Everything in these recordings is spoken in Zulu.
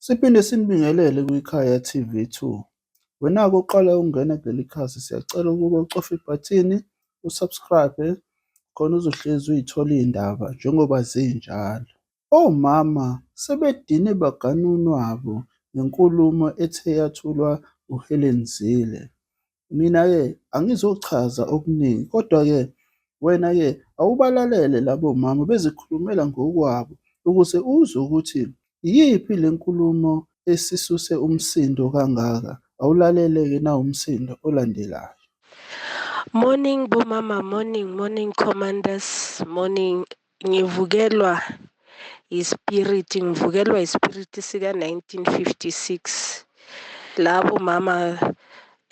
Siphinde sinibingelele kwiKhaya TV2. Wena-ke uqala ukungena kuleli khasi siyacela ukuba ucofe ibhathini usubscribe khona uzohlezi uyithola iy'ndaba njengoba zinjalo. Omama sebedine baganunwabo ngenkulumo ethe yathulwa uHelen Zille. Mina-ke angizochaza okuningi, kodwa-ke wena-ke awubalalele labo mama bezikhulumela ngokwabo ukuze uzwe ukuthi iyiphi le nkulumo esisuse umsindo kangaka. Awulalele-ke nawumsindo olandelayo. Morning bomama morning morning commanders morning Ngivukelwa ispiriti, ngivukelwa ispiriti sika 1956. Labo mama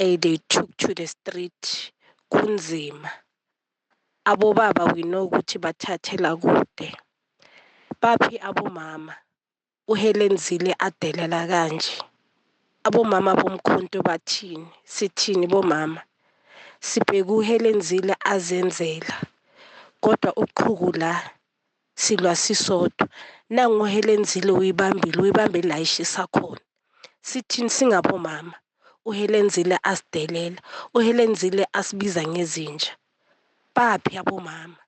ey they took to the street kunzima. Abobaba we know ukuthi bathathela kude. Baphi abomama? uHelen Zille adelela kanje. Abomama bomkhonto bathini? Sithini bomama? Sibheke uHelen Zille azenzela. Kodwa uqhuku la silwa sisodwa. Nangu uHelen Zille uyibambile, uyibambe la ishisa khona. Sithini singabomama? UHelen Zille asidelela. UHelen Zille asibiza ngezinja. Baphi abomama?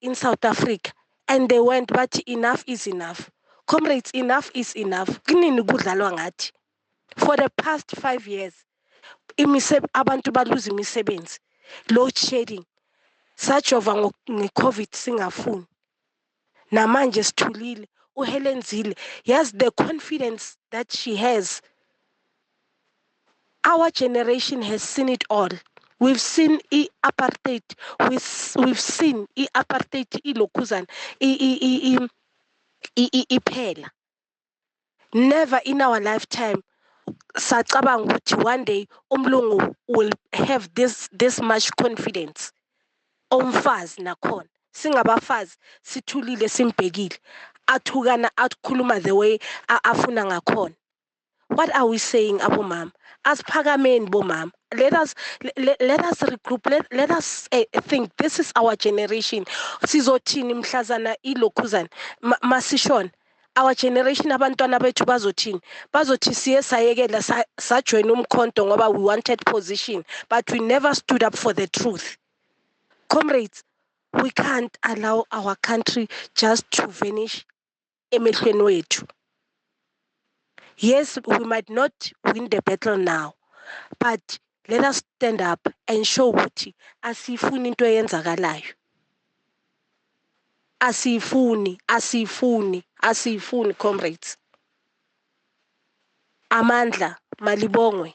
in South Africa and they went bathi enough is enough comrades enough is enough kunini kudlalwa ngathi for the past 5 years imise abantu baluza imisebenzi load shedding sajova ngecovid singafuni namanje sithulile uHelen Zille yazi the confidence that she has Our generation has seen it all. We've seen i-apartheid. We've seen i-apartheid ilokhuzana iphela. Never in our lifetime sacabanga ukuthi one day umlungu will have this this much confidence omfazi nakhona singabafazi sithulile simbhekile athukana akhuluma the way afuna ngakhona what are we saying abomama asiphakameni bomama let us let, let us regroup let, let us uh, think this is our generation sizothini mhlazana ilokhuzana masishona our generation abantwana bethu bazothini bazothi siye sayekela sajoin umkhonto ngoba we wanted position but we never stood up for the truth comrades we can't allow our country just to vanish emehlweni wethu yes we might not win the battle now but let us stand up and show ukuthi asiyifuni into eyenzakalayo asiyifuni asiyifuni asiyifuni comrades amandla malibongwe